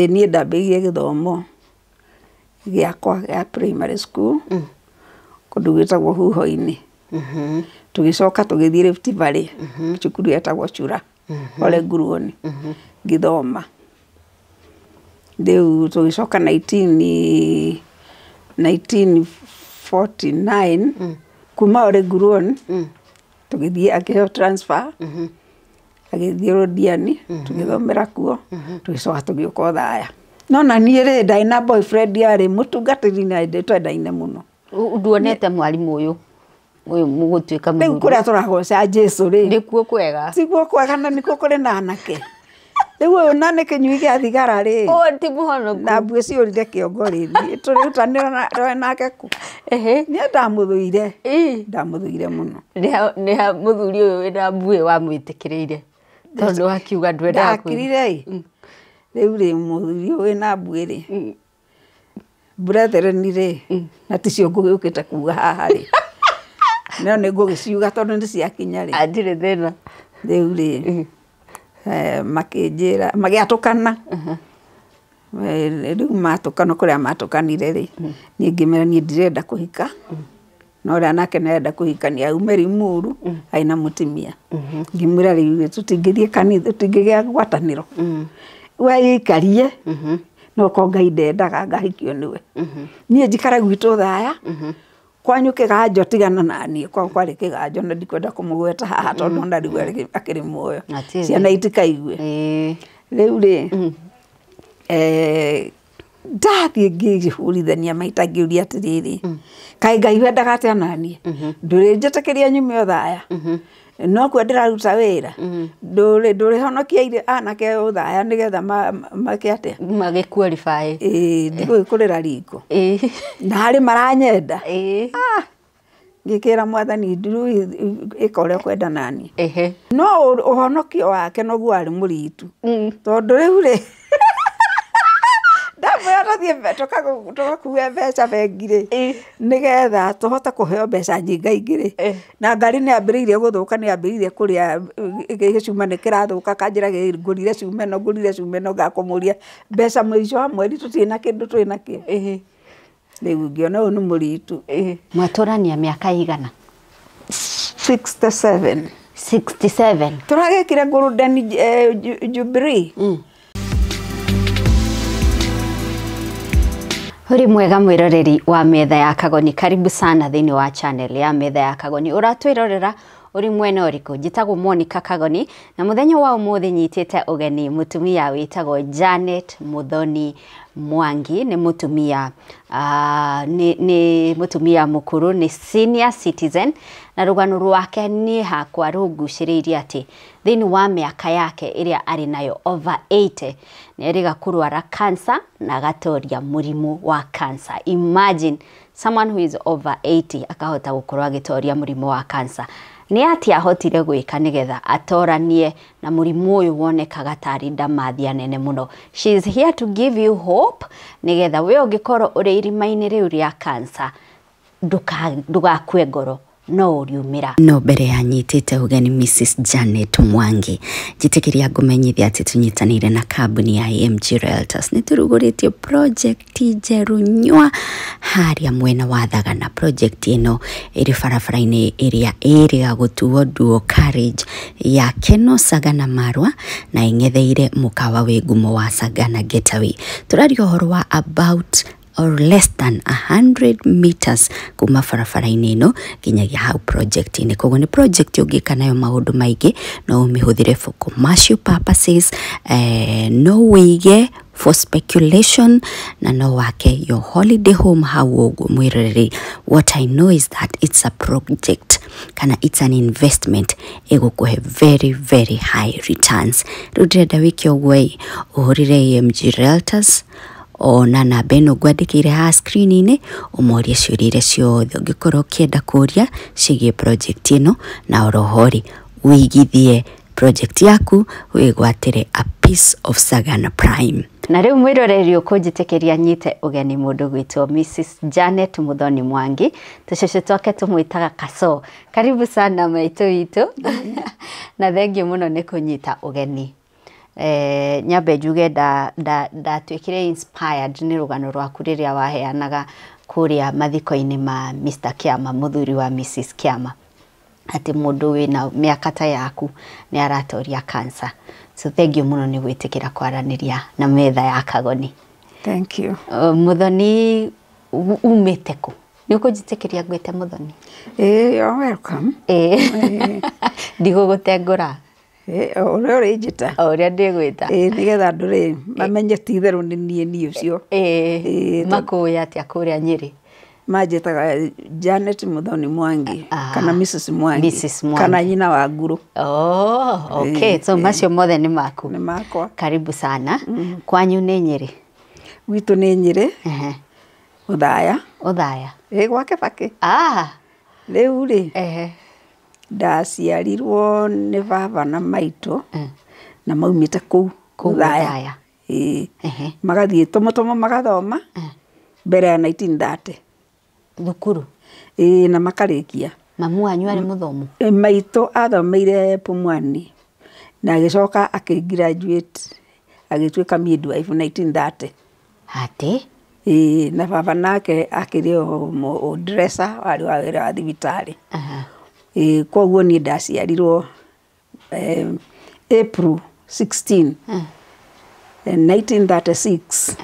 Ĩĩ niĩ ndambĩrĩirie gĩthomo gĩakwa gĩa primary school kũndũ gwĩtagwo Huho-inĩ. Tũgĩcoka tũgĩthiĩ Rift Valley cukuru yetagwo Chura Oreguruoni ngĩthoma. Rĩu tũgĩcoka nineteen nineteen forty nine kuma Oreguruoni tũgĩthiĩ akĩheo transfer agĩthiĩ Londiani tũgĩthomera kuo tũgĩcoka tũgĩũka o Thaya no na niĩ rĩ ndarĩ na boyfriend yarĩ mũtungatĩri na nĩ twendaine mũno U- nduonete mwarimũ ũyũ ũyũ mũgũtuĩka rĩu mũthuri kũrĩa tũragoca Jesu rĩ nĩkuo kwega tiguo kwega na nĩkuo kũrĩ na anake rĩu ũyũ na nĩ kĩnyui gĩa thigara rĩ ũyũ ti mũhonoku na mbuĩ ciũrire kĩongo rĩ niĩ tũrĩrutanĩra na- tũrĩ nake kũ Ehe. niĩ ndamũthũire Ii. ndamũthũire mũno nĩ ha- nĩ ha mũthuri ũyũ wĩna mbuĩ wamwĩtĩkĩrĩire tondũ akiuga ndwendaga kwĩruta. ndakirire ĩ rĩu rĩ mũthuri ũyũ wĩna mbuĩ rĩ Brethren rĩ, na ticio ngũgĩũkĩte kuuga haha rĩ, no nĩ ngũgĩciuga tondũ nĩ ciakinya rĩ. Hatirĩ thĩna. Rĩu rĩ, makĩnjĩra, magĩatũkana. Rĩu matũkana kũrĩa matũkanire rĩ, niĩ ngĩmera niĩ ndirenda kũhika. na ũrĩa nake nĩ arenda kũhikania aume Limuru arĩ na mũtumia ngĩmwĩra rĩu ithuĩ tũtingĩthiĩ kanitha tũtingĩgĩa ngwatanĩro we ĩikarie no ko Ngai ndendaga ngahikio nĩwe niĩ njikare gwitũ thaya kwanyu kĩganjo tigana na niĩ kwao kwarĩ kĩganjo na ndikwenda kũmũgweta haha tondũ ona rĩu arĩ- akĩrĩ muoyo Atiĩ thĩ. ciana itikaigue Ĩĩ. rĩu rĩ eh, ndathiĩ ngĩhũrithania maita ngĩũria atĩrĩrĩ mm. kaĩ ngai wendaga atĩa naniĩ mm-hmm. ndũrĩnjĩtĩkĩria nyume o thaya mm-hmm. no kuo ndĩraruta wĩra mm-hmm. ndũrĩhonokia irĩ anake o thaya nĩgetha make atĩa magĩkua ribaĩ ndigũgĩkũrĩra ringo na harĩ maranyenda ah! ngĩkĩra mwathani ndurui ĩka ũrĩa ũkwenda naniĩ. Ehe. No ũ- ũhonokio wake noguo warĩ mũritu Mm. tondũ rĩu rĩ ndamwĩra tũthiĩ mbe- tũkagu- tũgakue mbeca bengi-rĩ Ĩ. nĩgetha tũhote kũheo mbeca nyingaingĩ-rĩ Eh. na ngari nĩ yambĩrĩirie gũthũka nĩ yambĩrĩirie kũrĩa ĩ- ĩ- gĩcuma nĩ kĩrathũka kanjĩra ngũrire cuma ĩno ngũrire cuma ĩno ngakũmũria mbeca mũico wa mweri tũtirĩ na kĩndũ twĩ nakĩo Ehe. Rĩu ngĩona ũyũ nĩ mũritũ. Ĩĩ. Mwatũrania mĩaka ĩigana? 67. 67. Tũragekire golden eh, ju- jubilee. Ũrĩ mwega mwĩroreri wa metha ya kagoni karibu sana thĩinĩ wa channel ya metha ya kagoni ũratwĩrorera ũrĩ mwena ũrĩkũ njĩtagwo Monica Kagoni na mũthenya wa ũmũthĩ nyitĩte ũgeni mũtumia wĩtagwo Janet Muthoni Mwangi nĩ mũtumia ah, nĩ nĩ mũtumia mũkũrũ nĩ senior citizen na rũgano rwake niĩ hakwa rũngucĩrĩirie atĩ thĩinĩ wa mĩaka yake ĩrĩa arĩ nayo over 80 nĩ erĩga kũrwara cancer na agatoria mũrimũ wa cancer imagine someone who is over 80 akahota gũkorwo agĩtoria mũrimũ wa cancer nĩ atĩa ahotire gwĩka nĩgetha atoranie na mũrimũ ũyũ wonekaga tarĩ ndamathia nene mũno. She is here to give you hope nĩgetha we ũngĩkorwo ũrĩ irima-inĩ rĩu rĩa cancer ndũgakue ngoro no ũriumĩra. No mbere ya nyitĩte ũgeni Mrs Janet Mwangi, njĩtĩkĩria ngũmenyithia atĩ tũnyitanĩire na kambuni ya AMG Realtors nĩ tũrugũrĩtie project ti njerũ nyua harĩa mwena wa thagana project ĩno ĩrĩ barabara-inĩ ĩrĩa ĩrĩga gũtuo duo carriage ya keno sagana marwa na ĩng'etheire mũkawa wĩ ngumo wa sagana getaway tũraria ũhoro wa about or less than 100 meters kuma barabara-inĩ ĩno nginyagia hau project-inĩ koguo nĩ project ũngĩka nayo maũndũ maingĩ no ũmĩhũthĩre for commercial purposes eh, no wĩige for speculation na no wake your holiday home hau ũguo mwĩroreri what i know is that it's a project kana it's an investment ĩgũkũhe very very high returns rĩu ndĩrenda wĩke ũguo ĩ ũhũrĩre amg realtors ona namba ĩno ngwandĩkĩire haha screen-inĩ ũmorie ciũria iria ciothe ũngĩkorwo ũkĩenda kũria ciĩgiĩ project ĩno na oroho-rĩ wĩigithie project yaku wĩgwatĩre a piece of Sagana Prime. Na rĩu mwĩroreri ũkũnjĩtĩkĩria nyite ũgeni mũndũ gwitũ Mrs. Janet Muthoni Mwangi tũcũcũ twake tũmwĩtaga Kaso. Karibu sana maitũ witũ na thengiũ mũno nĩ kũnyita ũgeni. Eh, nyambe njuge nda- nda- ndatuĩkire inspired nĩ rũgano rwaku rĩrĩa waheanaga kũrĩa mathiko-inĩ ma Mr. Kiama mũthuri wa Mrs. Kiama atĩ mũndũ wĩna mĩaka ta yaku nĩ aratoria cancer. So thengiũ mũno nĩ gwĩtĩkĩra kwaranĩria na metha ya Kagoni. Thank you. Uh, Mũthoni u- umĩte kũ? Nĩ ũkũnjĩtĩkĩria ngwĩte Mũthoni? Ĩĩ, you're welcome. Ĩĩ. Ndigũgũtengũra. O ũrĩa ũrĩnjĩta. O ũrĩa ndĩgwĩta. Ĩĩ nĩgetha andũ rĩ, mamenye ti itherũ nĩ niĩ niĩ ũcio. Ĩĩ. Makũũĩ atĩa kũũrĩa Nyĩrĩ? Manjĩtaga Janet Mũthoni Mwangi, kana Mrs Mwangi. Mrs Mwangi. Kana nyina wa Nguru. Ooh, okay. So macio mothe nĩ maku? Nĩ makwa. Karibu sana. Kwanyu nĩ Nyĩrĩ? Gwitũ nĩ Nyĩrĩ, Othaya. Othaya? Ĩĩ gwa Kĩbakĩ. Rĩu rĩ, Ndaciarirwo nĩ baba na maitũ, na maumĩte kũu kũraya. Magathiĩ tũmũ tũmũ magathoma, mbere ya nineteen thirty. Thukuru? Ĩĩ na makarĩkia. Mamu wanyu arĩ mũthomu? Maitũ athomeire Pumwani, na agĩcoka akĩ graduate agĩtuĩka midwife nineteen thirty. Atĩ? Ĩĩ, na baba nake akĩrĩ o dresser warĩ wa wĩra wa thibitarĩ. Ĩĩ kwoguo niĩ ndaciarirwo April sixteen, nineteen thirty six.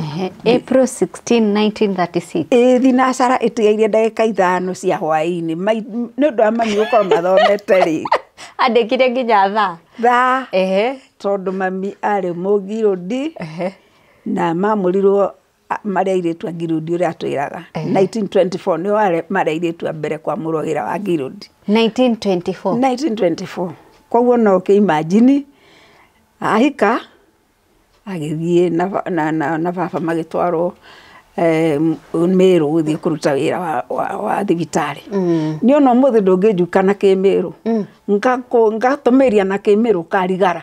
April sixteen, nineteen thirty six? Ĩĩ thinacara ĩtigaire ndagĩka ithano cia hwaĩ-inĩ, nĩ ũndũ wa mami gũkorwo mathomete rĩ. Andĩkire nginya thaa? Thaa. Ehe. Tondũ mami arĩ mũgirũndi. Ehe. Na mamũrirwo marĩ airĩtu a Gileadi ũrĩa atwĩraga. 1924 nĩo warĩ- marĩ airĩtu a mbere kwamũrwo wĩra wa Gileadi. 1924 1924 koguo no ũkĩ imagine ahika agĩthiĩ na ba- na na na baba magĩtwarwo eh, m- mĩrũ gũthiĩ kũruta wĩra wa, wa, wa thibitarĩ nĩ ona ũmũthĩ ndũngĩnjuka na kĩmĩrũ Ngakũ- ngatũmĩria na kĩmĩrũ karigara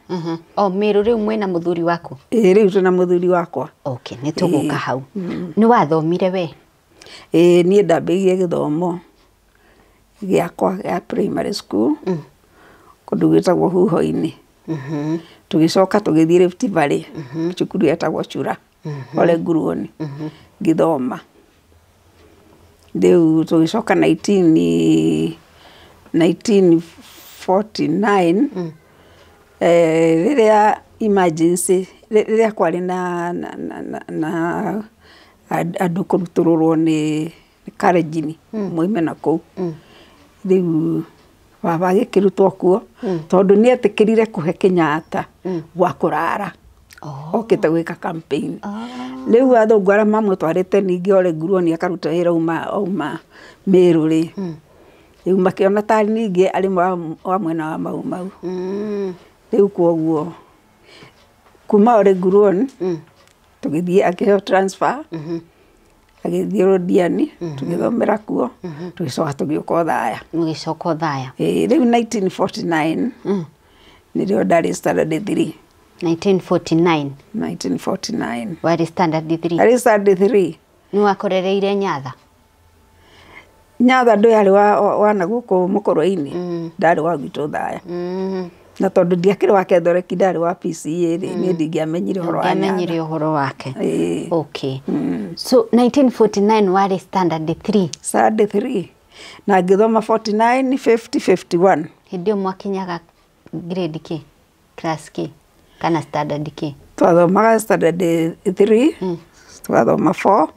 Mhm. O Mĩrũ rĩu mwĩna mũthuri waku? Ĩĩ rĩu twĩna mũthuri wakwa. Okay, nĩ tũgũka hau. Nĩ wathomire wee? Ĩĩ niĩ ndambĩrĩirie gĩthomo gĩakwa gĩa primary school kũndũ gwĩtagwo Huho-inĩ. Tũgĩcoka tũgĩthiĩ Rift Valley cukuru yetagwo Chura. ũrĩ nguruoni ngĩthoma. Rĩu tũgĩcoka nineteen nineteen forty nine rĩrĩa emergency rĩrĩa kwarĩ na na na andũ kũrutũrũrwo nĩ nĩ Kalenjin moime na kũu. Rĩu baba agĩkĩrutwo kuo tondũ nĩ etĩkĩrire kũhe Kenyatta gwa kũrara okĩte gwĩka campaign. Rĩu athũngũ arĩa mamũtwarĩte ningĩ Ole Nguruoni akaruta wĩra auma Merũ rĩ, rĩu makĩona ta ningĩ arĩ wa mwena wa Mau Mau. Rĩu kwoguo kuma Ole Nguruoni tũgĩthiĩ akĩheo transfer. Agĩthiĩ Londiani, tũgĩthomera kuo, tũgĩcoka tũgĩũka Othaya. Mũgĩcoka Othaya. Ĩĩ, rĩu 1949, nĩrĩo ndarĩ standard three. 1949, 1949. warĩ standard three. Ndarĩ standard three. Nĩwakorereire Nyatha? Nyatha ndũarĩ wa nagũkũ Mũkũrwe-inĩ, ndarĩ wa gwitũ Thaya. Na tondũ ndiakĩrĩ wa Kethoreki, ndarĩ wa PCEA rĩ, niĩ ndingĩamenyire ũhoro wa Nyatha. Ndũngĩamenyire ũhoro wake. Ĩĩ. Okay. So 1949 warĩ standard three? Standard three. Na ngĩthoma 49, 50, 51. Hĩndĩ ĩyo mwakinyaga grade kĩ? Class kĩ? Kana standard kĩ? Twathomaga standard three, tũgathoma four,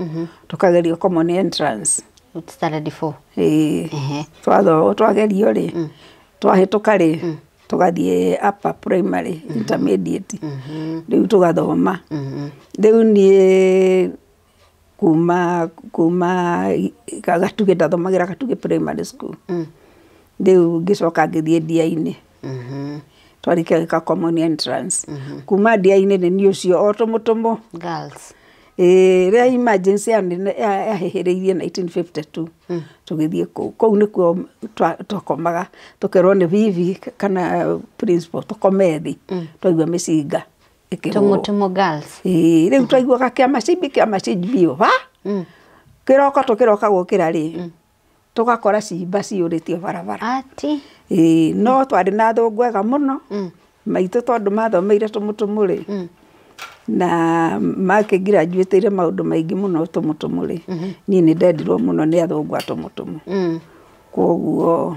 tũkagerio common entrance. Standard four? Ĩĩ. Ehe. Twatho- twagerio rĩ, twahĩtũka rĩ, tũgathiĩ upper primary, intermediate. Rĩu tũgathoma. Rĩu niĩ kuma kuma Gatugĩ, ndathomagĩra Gatugĩ primary school. Rĩu ngĩcoka ngĩthiĩ Ndiainĩ. Twarĩkia gwĩka common entrance. Kuma Ndiainĩ nĩ niĩ ũcio o tũmũtũmũ. Ĩĩ rĩrĩa emergency yahĩhĩrĩirie nineteen fifty two, tũgĩthiĩ kũu. Kũu nĩkuo twakomaga, tũkerwo nĩ bibi kana principal tũkome thĩ twaigua mĩcinga. ĩkĩhũrwo. Tũmũtũmũ girls. Ĩĩ, rĩu twaiguaga kĩa macimbi kĩa macimbi biũ ha Mm. kĩroko tũkĩroka gũkĩra rĩ tũgakora cimba ciyũrĩtio barabara Ati. Ĩĩ, no twarĩ na thũngũ ega mũno Mm. maitũ tondũ mathomeire tũmũtũmũ rĩ Mm. na makĩngirajuĩtĩire maũndũ maingĩ mũno tũmũtũmũ rĩ niĩ nĩ ndendirwo mũno nĩ athũngũ a tũmũtũmũ Mm. koguo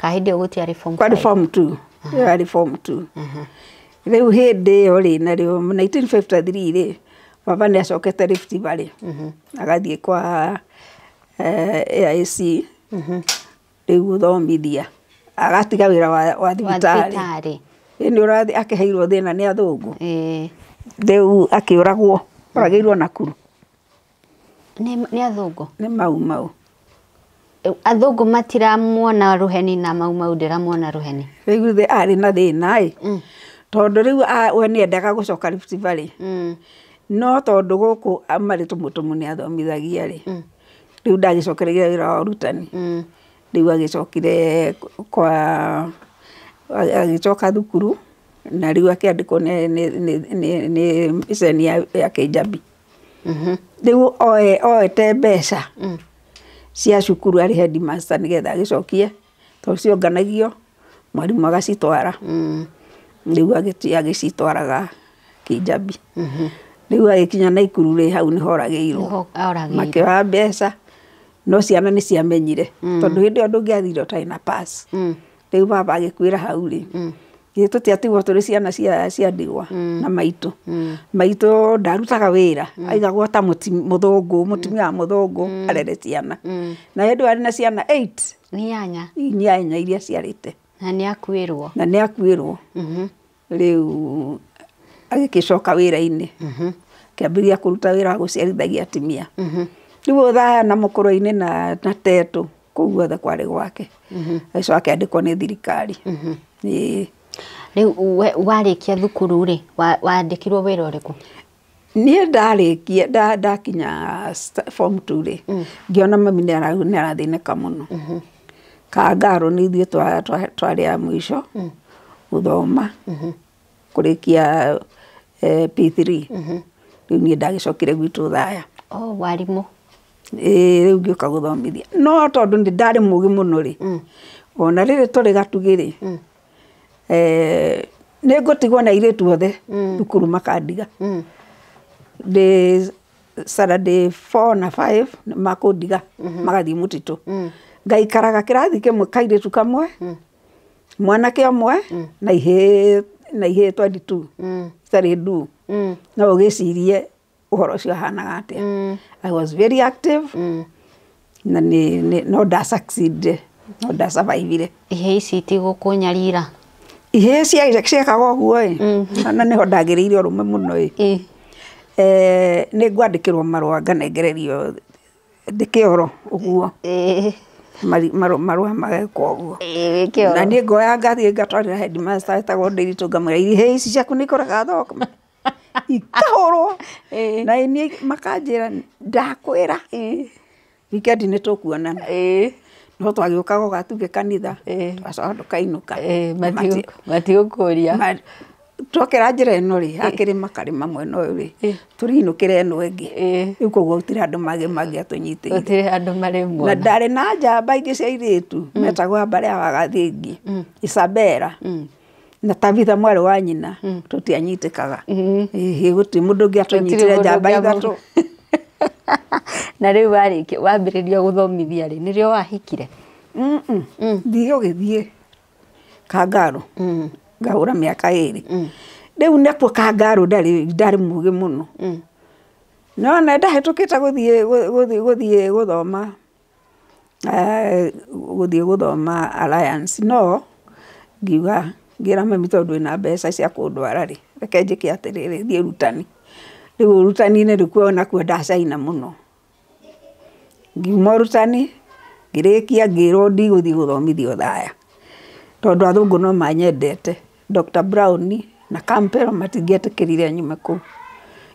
Ka hĩndĩ ĩyo gũtiarĩ form kwarĩ five. form two ĩyo yarĩ form two rĩu hĩndĩ ĩyo rĩ narĩo 1953 rĩ baba nĩ acokete Rift Valley agathiĩ kwa eh, AIC rĩu gũthomithia agatiga wĩra wa, wa Wa thibitarĩ thibitarĩ. Ĩ, nĩ ũrathi akĩheirwo thĩna nĩ athũngũ Ĩĩ. rĩu akĩũragwo oragĩirwo Nakuru Nĩ athũngũ? Nĩ mau mau. Athũngũ matiramuona rũheni na mau mau ndĩramuona rũheni? Rĩu githĩ arĩ na thĩna ĩ, tondũ rĩu we nĩ endaga gũcoka Rift Valley, no tondũ gũkũ marĩ tũmũtũmũ nĩ athomithagia rĩ, rĩu ndagĩcokereire wĩra wa ũrutani, rĩu agĩcokire kwa, agĩcoka thukuru na rĩu akĩandĩkwo nĩ ceni ya Kĩjabi. Rĩu oete mbeca cia cukuru arĩ headmaster nĩgetha agĩcokie tondũ cionganagio mwarimũ agacitwara. Rĩu agĩthiĩ agĩcitwaraga Kijabi. Rĩu agĩkinya Naikuru rĩ, hau nĩho oragĩirwo. Makĩoya mbeca no ciana nĩ ciamenyire tondũ hĩndĩ ĩyo ndũngĩathire ũtarĩ na pass. rĩu baba agĩkuĩra hau rĩ githĩ tũtiatigwo tũrĩ ciana cia cia ndigwa na maitũ maitũ ndarutaga wĩra aigagwo ta mũti mũthũngũ mũtumia wa mũthũngũ arere ciana na hĩndĩ ĩyo arĩ na ciana eight Nĩanya. inyanya iria aciarĩte Na nĩakuĩrwo. na nĩ akuĩrwo Rĩu agĩgĩcoka wĩra-inĩ, akĩambĩrĩria kũruta wĩra wa gũciarithagia atumia. Rĩu ũyũ Thayana mũkũrũ-inĩ na Tetũ, kũu guothe kwarĩ gwake. Agĩcoka akĩandĩkwo nĩ thirikari. Ĩĩ. Rĩu we warĩkia thukuru-rĩ, wandĩkirwo wĩra ũrĩkũ? Niĩ ndarĩkia ndakinya form two rĩ, ngĩona mami nĩ arathĩnĩka mũno. Kangarũ nĩ ithuĩ twarĩ a mũico gũthoma kũrĩkia P three. Rĩu niĩ ndagĩcokire gwitũ Thaya. Ĩĩ rĩu ngĩũka gũthomithia. No tondũ nĩ ndarĩ mũgĩ mũno rĩ, ona rĩrĩ tũrĩ gatugĩ rĩ eh, nĩ ngũtigwo na airĩtu othe thukuru makandiga ndĩ Saturday four na five nĩ makũndiga magathiĩ mũtitũ ngaikaraga kĩrathi kĩmwe kairĩtu kamwe mwanake ũmwe na ihĩĩ na ihĩĩ 22 citarĩ nduu no ũgĩcirie ũhoro ũcio ũhanaga atĩa. I was very active na nĩ, nĩ, no nda succeedire, no nda survive ire. Ihĩĩ ici itigũkũnyarira. Ihĩĩ cia- ciekaga ũguo ĩ, na nĩho ndagĩrĩire ũrũme mũno ĩ. Ĩ. Eh, nĩ ngwandĩkĩrwo marũa nganengererio ndĩ kĩoro ũguo, Ĩ. mari- marũ- marũa mageka ũguo. Ĩ, wĩ kĩoro. Na niĩ ngoya ngathiĩ ngatwarĩra headmaster wetagwo Ndiritu ngamwĩra ihĩĩ ici ciaku nĩ ikũrega thũkũma. ikahũrwo na niĩ makanjĩra ndakwĩra wikendi nĩ tũkuonana. No twagĩũkaga ũga tuge kanitha tũgacoka tũkainũka. Matigũkũria. Twokĩra njĩra ĩno rĩ hakĩrĩma karĩma mwena ũyũ rĩ tũrĩinũkĩra ĩno ĩngĩ rĩu koguo gũtirĩ andũ mangĩatũnyitĩrĩire. Gũtirĩ handũ marĩ muona. Na ndarĩ na njamba ingĩ cia airĩtu metagwo Ambarĩ ya Wagathingi, Isabella. Na Tabitha mwarĩ wa nyina tũtianyitĩkaga. Ĩhĩ, gũtirĩ mũndũ ũngĩ atũnyitire njamba ithatũ. Na rĩu warĩkia wambĩrĩria gũthomithia rĩ, nĩrĩo wahikire? Thiĩ ũgĩthiĩ Kangaarũ ngahũra mĩaka ĩrĩ. Rĩu nakuo Kangaarũ ndarĩ ndarĩ mũũgĩ mũno. Nĩwona ndahetũkĩte gũthiĩ gũthiĩ gũthiĩ gũthoma. gũthiĩ gũthoma Alliance, no ngiuga ngĩra mami tondũ ndũrĩ na mbeca cia kũndwara rĩ, reke njĩke atĩrĩrĩ, thiĩ ũrutani. Rĩu ũrutani-inĩ rĩu kuo nakuo ndacaina mũno. Ngiuma ũrutani, ngĩrĩkia ngĩrwo ndigũthiĩ gũthomithia Othaya, tondũ athũngũ no manyendete. Doctor Brown na Campell matingĩetĩkĩrire nyume kũu.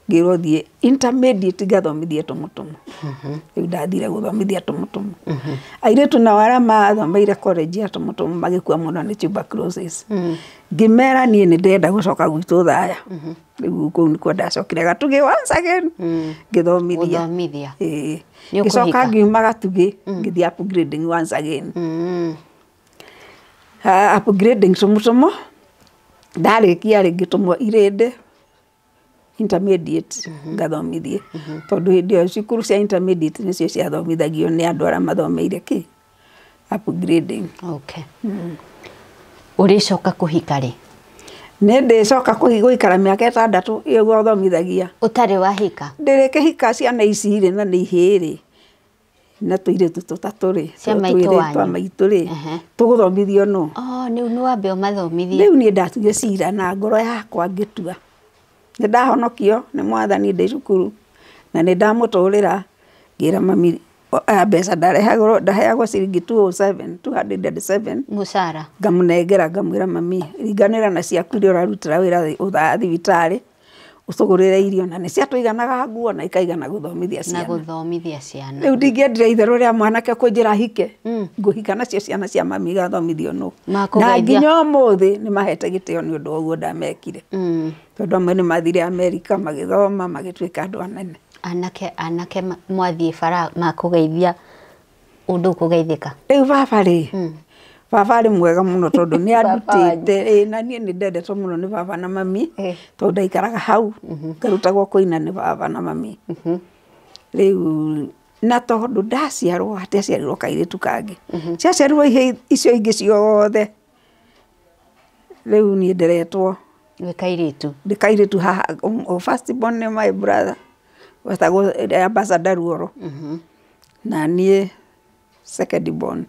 Ngĩrwo thiĩ intermediate ngathomithie tũmũtũmũ. Rĩu ndathire gũthomithia tũmũtũmũ. Airĩtu nao arĩa mathomeire college ya tũmũtũmũ magĩkua mũno nĩ tuberculosis. Ngĩmera niĩ nĩ ndĩrenda gũcoka gwitũ Thaya. Rĩu kũu nĩkuo ndacokire Gatugĩ once again ngĩthomithia. Gũthomithia. Ĩĩ. Nĩ ũkũhika. Ngĩcoka ngiuma Gatugĩ ngĩthiĩ upgrading once again. Upgrading tũmũtũmũ, ndarĩkia rĩngĩ tũmũ irĩndĩ, intermediate ngathomithia, tondũ hĩndĩ ĩyo cukuru cia intermediate nĩcio ciathomithagio nĩ andũ arĩa mathomeire kĩ? Upgrading. Okay. Ũrĩcoka kũhika rĩ? Nĩndĩcoka kũhi- gũikara mĩaka ĩtandatũ ĩyo gũthomithagia. Ũtarĩ wahika? Ndĩrĩkĩhika ciana ici-rĩ, na nĩ ihĩĩ-rĩ, na tũirĩtu tũtatũ rĩ Cia maitũ twĩrĩ wanyu. twa maitũ rĩ Ehe. tũgũthomithio nũ Oh, nĩu nĩ wambe ũmathomithie rĩu niĩ ndatuire cira na ngoro yakwa ngĩtua nĩ ndahonokio nĩ mwathani ndĩ cukuru na nĩ ndamũtũrĩra ngĩra mami o- a, mbeca ndarehagwo ndaheagwo ciringi 207 207 mũcara ngamũnengera ngamwĩra mami ringanĩra na ciaku iria ũrarutĩra wĩra thĩ- ũthaa thibitarĩ ũtũgũrĩre irio na nĩ cia tũiganaga nguo na ikaigana gũthomithia ciana. Na gũthomithia ciana. Rĩu ndingĩendire itherũ rĩa mwanake kũnjĩra hike. Mm. Ngũhika nacio ciana cia mami igathomithio nũ. Na nginya ũmũthĩ nĩ mahete gĩtĩo nĩ ũndũ ũguo ndamekire. Mm. Tondũ amwe nĩ mathire Amerika magĩthoma magĩtuĩka andũ anene. Anake anake mwathiĩ bara makũgeithia ũndũ ũkũgeithĩka. Rĩu baba rĩ, baba arĩ mwega mũno tondũ nĩ andutĩte, ĩĩ na niĩ nĩ ndendetwo mũno nĩ baba na mami, tondũ ndaikaraga hau, ngarutagwo kũina nĩ baba na mami. Rĩu na tondũ ndaciarwo hatiaciarirwo kairĩtu kangĩ, ciaciarirwo icio ingĩ ciothe. Rĩu niĩ nderetwo ndĩ kairĩtu, ndĩ kairĩtu haha first born nĩ my brother wetagwo Ambassador Ruoro na niĩ second born.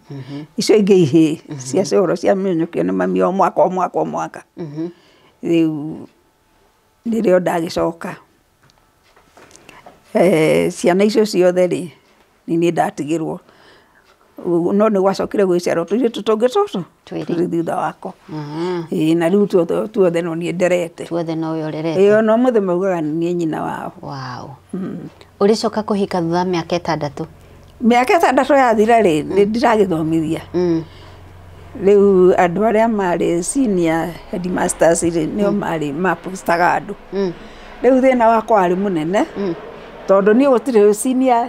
Icio ingĩ ihĩĩ cia coro cia mĩnyukĩ nĩ mami o mwaka o mwaka o mwaka. Rĩu nĩrĩo ndagĩcoka. Ciana icio ciothe rĩ, nĩ niĩ ndatigĩrwo, no nĩ gwacokire gũgĩciarwo tũirĩtu tũngĩ tũtũ twĩrĩ thutha wakwa, na rĩu tuothe nĩ niĩ nderete, na ũmũthĩ maugaga nĩ niĩ nyina wao. Ũrĩcoka kũhika thutha wa mĩaka ĩtandatũ? Mĩaka ĩtandatũ yathira rĩ, nĩ ndĩragĩthomithia. Rĩu andũ arĩa marĩ senior headmasters rĩ, nĩo marĩ ma post aga andũ. Rĩu thĩna wakwa warĩ mũnene, tondũ niĩ gũtirĩ senior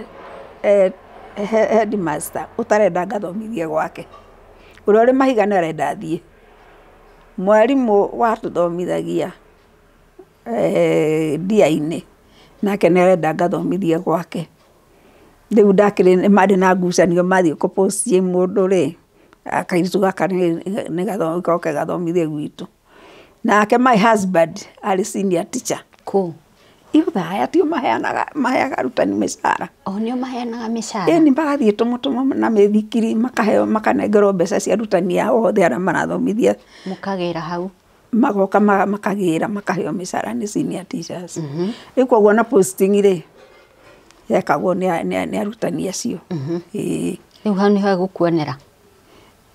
headmaster ũtarenda ngathomithie gwake. Ũrĩa ũrĩ mahiga nĩ arenda thiĩ. Mwarimũ watũthomithagia... ndiainĩ, nake nĩ arenda ngathomithie gwake. Rĩu ndakĩrĩ marĩ na ngucanio mathiĩ kũ post i mũndũ rĩ, kairĩtu gaka nĩ goke gathomithie gwitũ. Nake my husband arĩ senior teacher kũ? Rũraya, ti o maheaga arutani mĩcara? Ĩni magathiĩ tũmũtũmwo na mĩithikiri makaheo makanengerwo mbeca cia arutani ao othe arĩa marathomithia. magoka makagĩra makaheo mĩcara nĩ senior teachers. Rĩu koguo ona posting rĩ, yekagwo nĩ arutani acio. Rĩu hau nĩho egũkuonera?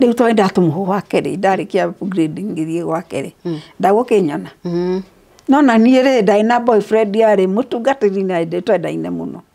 Rĩu tondũ ndatũmwo gwa kerĩ, ndarĩkia grade ngĩthiĩ gwa kerĩ, ndagũkĩnyona? No na niĩ rĩ, ndarĩ na boyfriend yarĩ mũtungatĩri na nĩ twendaine mũno.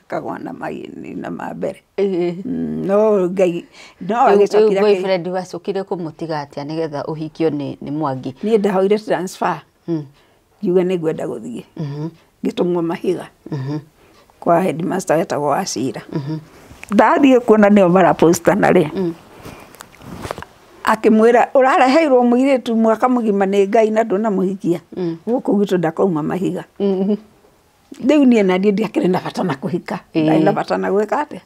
Akagũa na maĩnĩ na ma mbere. Ĩĩ. No Ngai, no agĩcokire akĩ- Rĩu boyfriend wacokire kũmũtiga atĩa nĩgetha ũhikio nĩ nĩ Mwangi? Niĩ ndahoire transfer, ngiuga nĩ ngwenda gũthiĩ. Ngĩtũmwo Mahiga, kwa headmaster wetagwo Wachira. Ndathiĩ kuo na nĩo mara post ana rĩ, akĩmwĩra ũrareheirwo mũirĩtu mwaka mũgima nĩ Ngai na ndũnamũhikia? Gũkũ gwitũ ndakoima Mahiga. Rĩu niĩ naniĩ ndiakĩrĩ na bata na kũhika. Ĩĩ. Ndarĩ na bata na gwĩka atĩa.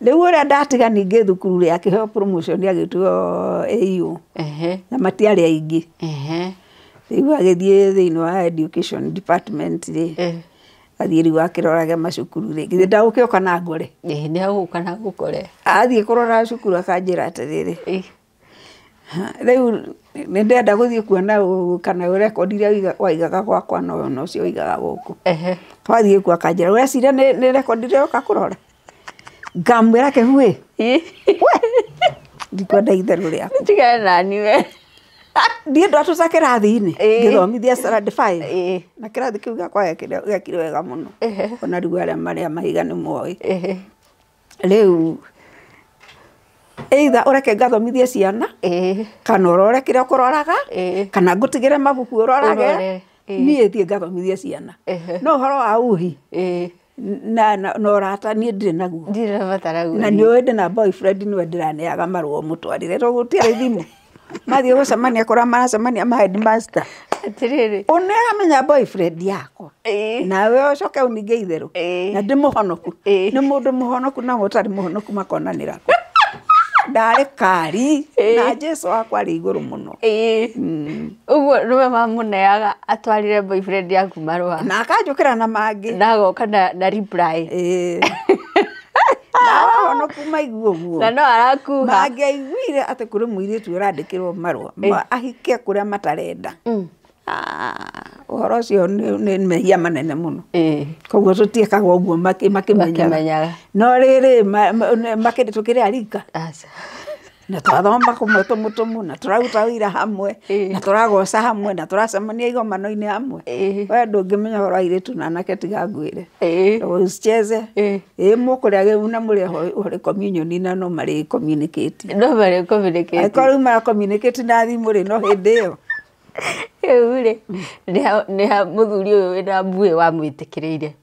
Rĩu ũrĩa ndatiga ningĩ thukuru rĩ, akĩheo promotion agĩtuo AO, Ehe. na matiarĩ aingĩ. Ehe. Rĩu agĩthiĩ thĩinĩ wa education department rĩ, Eh. athiĩ rĩu akĩrorage macukuru rĩ, githĩ ndagũkĩoka na ngore? Ĩĩ, nĩ agũka na agũkore. Athiĩ kũrora cukuru akanjĩra atĩrĩrĩ, Ĩĩ. Rĩu nĩ ndĩrenda gũthiĩ kuona kana rekondi iria waigaga gwakwa nocio ũigaga gũkũ. Twathiĩ kuo akanjĩra ũreciria nĩ rekondi ndĩroka kũrora? Ngamwĩra kĩhu ĩ, we ndikwenda itherũ rĩaku. Tigana nani we. Ndiĩ ndatũra kĩrathi-inĩ ngĩthomithia standard five na kĩrathi kĩu gĩakwa gekire wega mũno ona rĩu arĩa marĩ a mahiga nĩ moĩ. Rĩu either ũreke ngathomithie ciana ĩĩ kana ũrore kĩrĩa ũkũroraga ĩĩ kana ngũtigĩre mabuku ũrorage Ũrore, ĩĩ. niĩ thiĩ ngathomithie ciana Ehe. no ũhoro wa uhi ĩĩ na na- na ũrata niĩ ndirĩ naguo ndirabatara na nĩ ũĩ ndĩ na boyfriend nĩwe ndĩraneaga marũa mũtwarĩre tũgũtiarĩ thimũ mathiĩ gũcemania kũrĩa maracemania ma headmaster atĩrĩrĩ ũyũ nĩ aramenya boyfriend yakwa ĩĩ, nawe ũcoke ũninge itherũ Ĩĩ. na ndĩ mũhonoku Ĩĩ. nĩ mũndũ mũhonoku na ũtarĩ mũhonoku makonanĩra kũ? ndarĩ kari Ĩĩ. na jesu wakwa arĩ igũrũ mũno ĩĩ. Mm. ũguo nĩwe mamũneaga atwarĩre boyfriend yaku marũa na akanjũkĩra na mangĩ na agoka na, na reply Ĩĩ. ahonoku maigua ũguo na no arakuga mangĩaiguire atĩ kũrĩ mũirĩtu ũrandĩkĩrwo marũa ma ahike kũrĩa matarenda Ah, ũhoro ũcio nĩ nĩ mehia manene mũno Eh, koguo tũtiĩkaga ũguo makĩ- makĩmenyaga Makĩmenyaga. no rĩrĩ ma- ma- nĩ- makĩrĩ tũkĩrĩ arika aca na twathoma kũmwe tũmũtũmũ na tũraruta wĩra hamwe na tũragoca hamwe na tũracemania igomano-inĩ hamwe we ndũngĩmenya ũhoro wa airĩtu na anake tiga ngwĩre usicheze ĩĩ mũkũrĩa kĩu na mũrĩ oho communion na no marĩ communicate no marĩ communicate angĩkorwo rĩu mara communicate na thimũ rĩ no hĩndĩ ĩyo rĩu rĩ nĩ ha mũthuri ũyũ wĩna mbuĩ wamwĩtĩkĩrĩire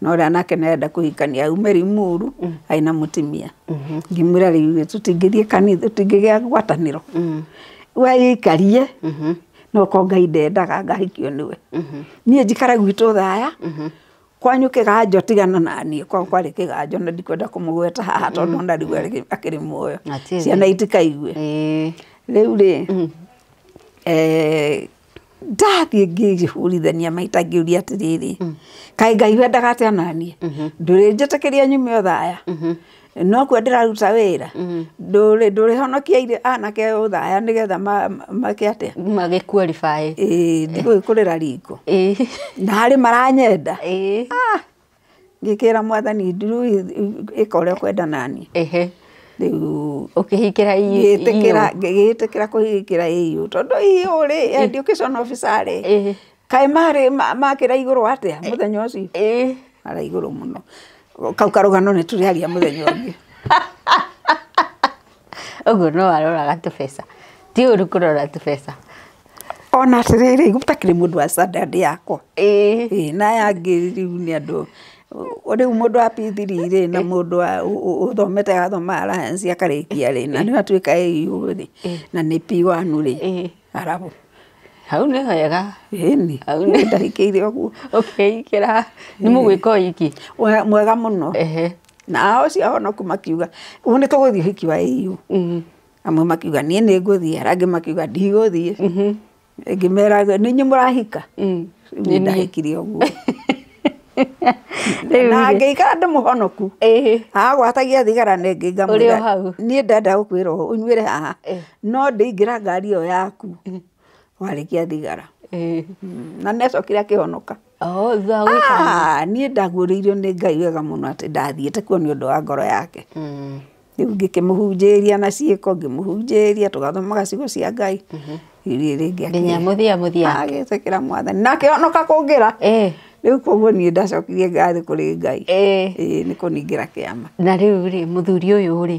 na ũrĩa nake nĩ arenda kũhikania aume Limuru arĩ na mũtumia ngĩmwĩra rĩu tũtingĩthiĩ kanitha tũtingĩgĩa ngwatanĩro we ĩikarie no ko Ngai ndendaga ngahikio nĩwe niĩ njikare gwitũ thaya kwanyu kĩganjo tigana na niĩ kwao kwarĩ kĩganjo na ndikwenda kũmũgweta haha tondũ ona rĩu arĩ akĩrĩ muoyo Atĩrĩ. ciana itikaigue Ĩĩ. rĩu rĩ eh, ndathiĩ ngĩhũrithania maita ngĩũria atĩrĩrĩ kaĩ ngai wendaga atĩa naniĩ ndũrĩ njĩtĩkĩria nyume ũthaya no kuo ndĩraruta wĩra ndũrĩ ndũrĩhonokia irĩ anake ũthaya nĩgetha ma- ma- make atĩa magĩkua rĩbaĩ Ĩĩ, ndigũgĩkũrĩra ringo Ĩĩ. na harĩ maranyenda Ĩĩ. Ah, Ngĩkĩra mwathani nduru ĩka ũrĩa ũkwenda naniĩ. Ehe. Rĩu ũkĩhingĩra iyũ. Ngĩgĩtĩkĩra ngĩgĩtĩkĩra kũhingĩra iyũ. Tondũ iyũ rĩ, education officer rĩ, kaĩ marĩ makĩraihgũrwo atĩa mũthenya ũcio? Maraihgũrwo mũno. Kau karũgano nĩ tũrĩaria mũthenya ũngĩ. Ũguo no aroraga tũbeca. Ti ũru kũrora tũbeca. Ona atĩrĩrĩ, gũtakĩrĩ mũndũ wa standard yakwa. Ĩĩ. Na aya angĩ rĩu nĩ andũ, rĩu mũndũ wa P three rĩ, na mũndũ wa ũthomete athoma Alliance akarĩkia rĩ, na rĩu atuĩka AU rĩ, na nĩ P one rĩ, arabu. Hau nĩ hega. Ĩni. Hau nĩ. Ndarĩkĩire ũguo. Ũkeigĩra. Nĩ mũgwĩka o iki. Mwega mũno. Ehe. nao acio ahonoku makiuga ũũ nĩ tũgũthiĩ ũhiki wa AU amwe makiuga niĩ nĩ ngũthiĩ arĩa angĩ makiuga ndigũthiĩ ĩngĩ meraga nĩ inyuĩ mũrahika niĩ ndahikire ũguo na ngĩikara ndĩ mũhonoku Ĩhĩ. agwatagia thigara nĩ Ũrĩ o ngamwĩra hau. niĩ ndenda gũkwĩra ũũ ũnyuĩre haha no ndĩingĩra ngari ĩyo yaku warĩkia thigara Ĩhĩ. na nĩ acokire akĩhonoka Oo thutha wa gwĩka ũguo. Ah, niĩ ndaguũrĩirio nĩ ngai wega mũno atĩ ndathiĩte kuo nĩ ũndũ wa ngoro yake rĩu ngĩkĩmũhunjĩria na ciĩko ngĩmũhunjĩria tũgathoma gacigo cia ngai rĩu niĩ rĩngĩ Nginya akĩ- mũthia mũthia. agĩtĩkĩra mwathani na akĩhonoka kũngĩra Ĩĩ. rĩu koguo niĩ ndacokirie ngathiĩ kũrĩ ngai Ĩĩ. Ĩĩ, nĩ kũningĩra kĩama na rĩu rĩ mũthuri ũyũ rĩ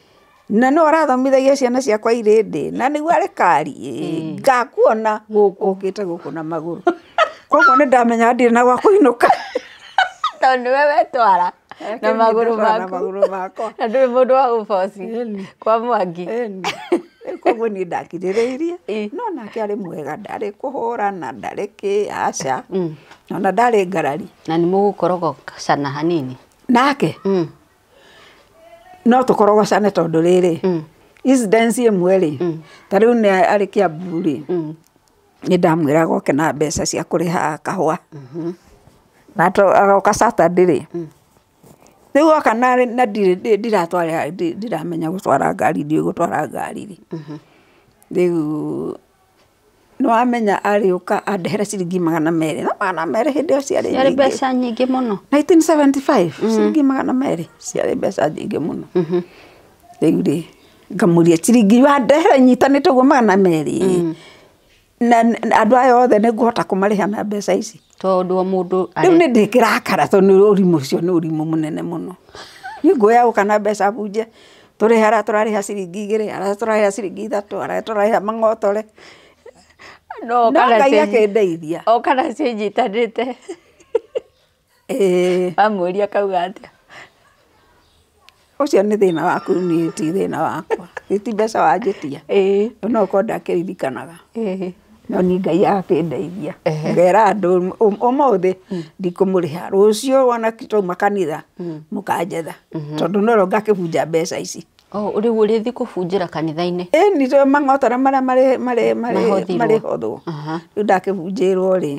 Na nũũ ũrathomithagia ciana ciakwa irĩ ndĩĩ? Na nĩguo arĩ kari? Ĩ! Ngakuona ũũkĩte gũkũ na magũrũ. Kwoguo nĩ ndamenya ndirĩ na gwa kũinũka. Tondũ nĩwe wetwara na magũrũ Ndatwara na maku. magũrũ makwa. Na ndũrĩ mũndũ wa gũboci Ĩni. kwa Mwangi. Ĩni. Rĩu kwoguo niĩ ndakirĩrĩirie, Ĩ. no nake arĩ mwega, ndarĩ kũhũrana, ndarĩ kĩ, aca. Ona ndarĩ ngarari. Na nĩ mũgũkorogocana hanini. Nake? Mm. no tũkorogocane tondũ rĩrĩ mm. incidence ĩmwe rĩ mm. ta rĩu nĩ arĩ kĩambu rĩ mm. nĩ ndamwĩra goke na mbeca cia kũrĩha kahũa mm-hmm. na agoka saturday rĩ mm. rĩu oka na ndiratwara ndiramenya gũtwara ngari ndiũĩ gũtwara ngari rĩ mm-hmm. rĩu Nĩwamenya arĩũka andehere ciringi magana merĩ. Na magana merĩ hĩndĩ ĩyo ciarĩ nyingĩ. Ciarĩ mbeca nyingĩ mũno. 1975, ciringi magana merĩ ciarĩ mbeca nyingĩ mũno. Rĩu rĩ, ngamũria ciringi wandehere nyitanĩte ũguo magana merĩ, na andũ aya othe nĩngũhota kũmarĩha na mbeca ici? Tondũ o mũndũ are. Rĩu nĩ ndĩkĩrakara tondũ ũrimũ ũcio nĩ ũrimũ mũnene mũno. Niĩ nguoya o kana mbeca bunje, tũrĩhe arĩa tũrarĩha ciringi igĩrĩ, arĩa tũrarĩha ciringi ithatũ, arĩa tũrarĩha mang'otore. No Ngai akĩndeithia. O kana ciĩnyitanĩte. Ĩĩ. Wamũria akauga atĩa? Ũcio nĩ thĩna waku niĩ ti thĩna wakwa. Githĩ ti mbeca wanjĩtia? No gũkorwo ndakĩririkanaga. No niĩ Ngai akĩndeithia, ngera andũ ũmũthĩ ndikũmũrĩha, rũciũ ona twauma kanitha mũkanjetha. Tondũ no rĩo ngakĩbunja mbeca ici. Rĩu ũrĩthiĩ kũbunjĩra kanitha-inĩ? Ĩni tondũ mang'otore marĩa marĩhothirwo. Rĩu ndakĩbunjĩirwo rĩ,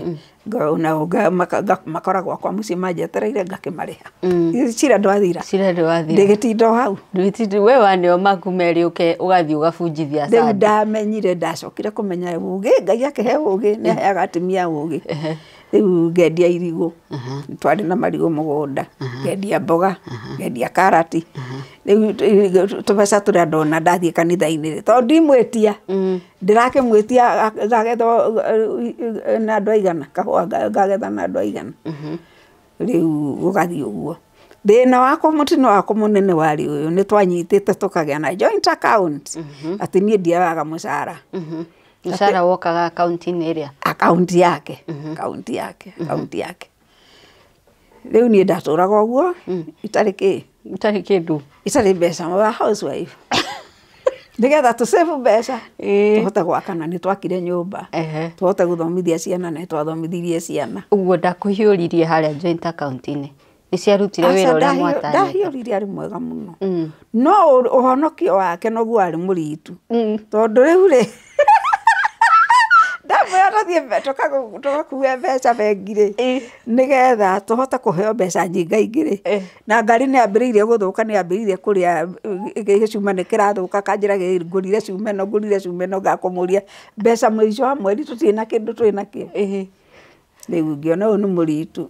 ngona ũũ, nga- maka- nga- makora gwakwa mũciĩ manjetereire ngakĩmarĩha Githĩ cira ndwathira cira ndĩwathira ndĩgĩtinda o hau ndwĩtindi we waneo maku merĩ ũke ũgathiĩ ũgabunjithia rĩu sande ndamenyire ndacokire kũmenya ũgĩ ngai akĩhe ũgĩ nĩ aheaga atumia ũgĩ rĩu ngendia irigũ Nĩ twarĩ na marigũ mũgũnda ngendia mboga ngendia karati rĩu tũ- tũbeca tũrĩa ndona ndathiĩ kanitha-inĩ rĩ tondũ ndimwĩtia Ndĩrakĩmwĩtia ngagethwo na andũ aigana, kahũa ngagetha na andũ aigana, rĩu gũgathiĩ ũguo. Thĩna wakwa mũtino wakwa mũnene warĩ ũyũ, nĩ twanyitĩte tũkagĩa na joint account, atĩ niĩ ndioyaga mũcara. Mũcara wokaga akaunti-inĩ ĩrĩa? Akaunti yake, akaunti yake, akaunti yake. Rĩu niĩ ndatũraga ũguo itarĩ kĩĩ? Itarĩ kĩndũ. Itarĩ mbeca. We are house wife. Nĩ getha tũ save mbeca tũhote gwaka na nĩ twakire nyũmba, tũhote gũthomithia ciana na nĩ twathomithirie ciana. Ũguo ndakũhiũririe harĩa joint account -inĩ? Nĩ ciarutire wĩra ũrĩa mwatanyĩte? Aca ndahiũririe arĩ mwega mũno. No ũhonokio wake noguo arĩ mũritũ. Tondũ rĩu rĩ. ndamwĩra tũthiĩ mbe- tũkagu- tũgakue mbeca bengi-rĩ Ĩ. nĩgetha tũhote kũheo mbeca nyingaingĩ-rĩ Ĩ. na ngari nĩ yambĩrĩirie gũthũka nĩ yambĩrĩirie kũrĩa ĩ, gĩ- gĩcuma nĩ kĩrathũka kanjĩra gĩ- ngũrire cuma ĩno ngũrire cuma ĩno ngakũmũria mbeca mũico wa mweri tũtirĩ na kĩndũ twĩ nakĩo Ĩ. Rĩu ngĩona ũyũ nĩ mũritũ,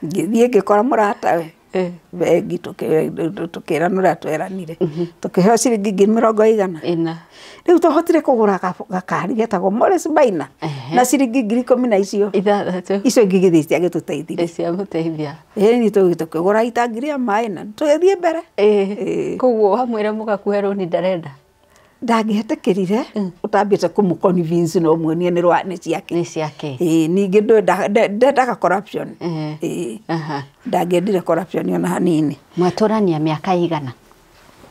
ngĩthiĩ ngĩkora mũratawe bengi tũkĩranĩra tweranire, tũkĩheo ciringi ngiri mĩrongo ĩigana? ĩna. Rĩu twahotire kũgũra gakari getagwo Morris Minor na ciringi ngiri ikũmi na icio ithathatũ, icio ingĩ igĩthiĩ ciagĩtũteithirie, ciagũteithia, ĩni tũgĩthiĩ tũkĩgũra itangi rĩa maĩ na tũgĩthiĩ mbere. Ĩĩ, kwoguo wamwĩra mũgakue rũni ndarenda? ndangĩhetĩkĩrire ũtambĩte kũmũ convince na ũmuonie nĩ rwa nĩ ciake nĩ ciake Ĩĩ, ningĩ ndwenda- nde- ndendaga corruption Ĩĩ. Ĩĩ. Aha. ndangĩendire corruption ona hanini mwatũrania mĩaka igana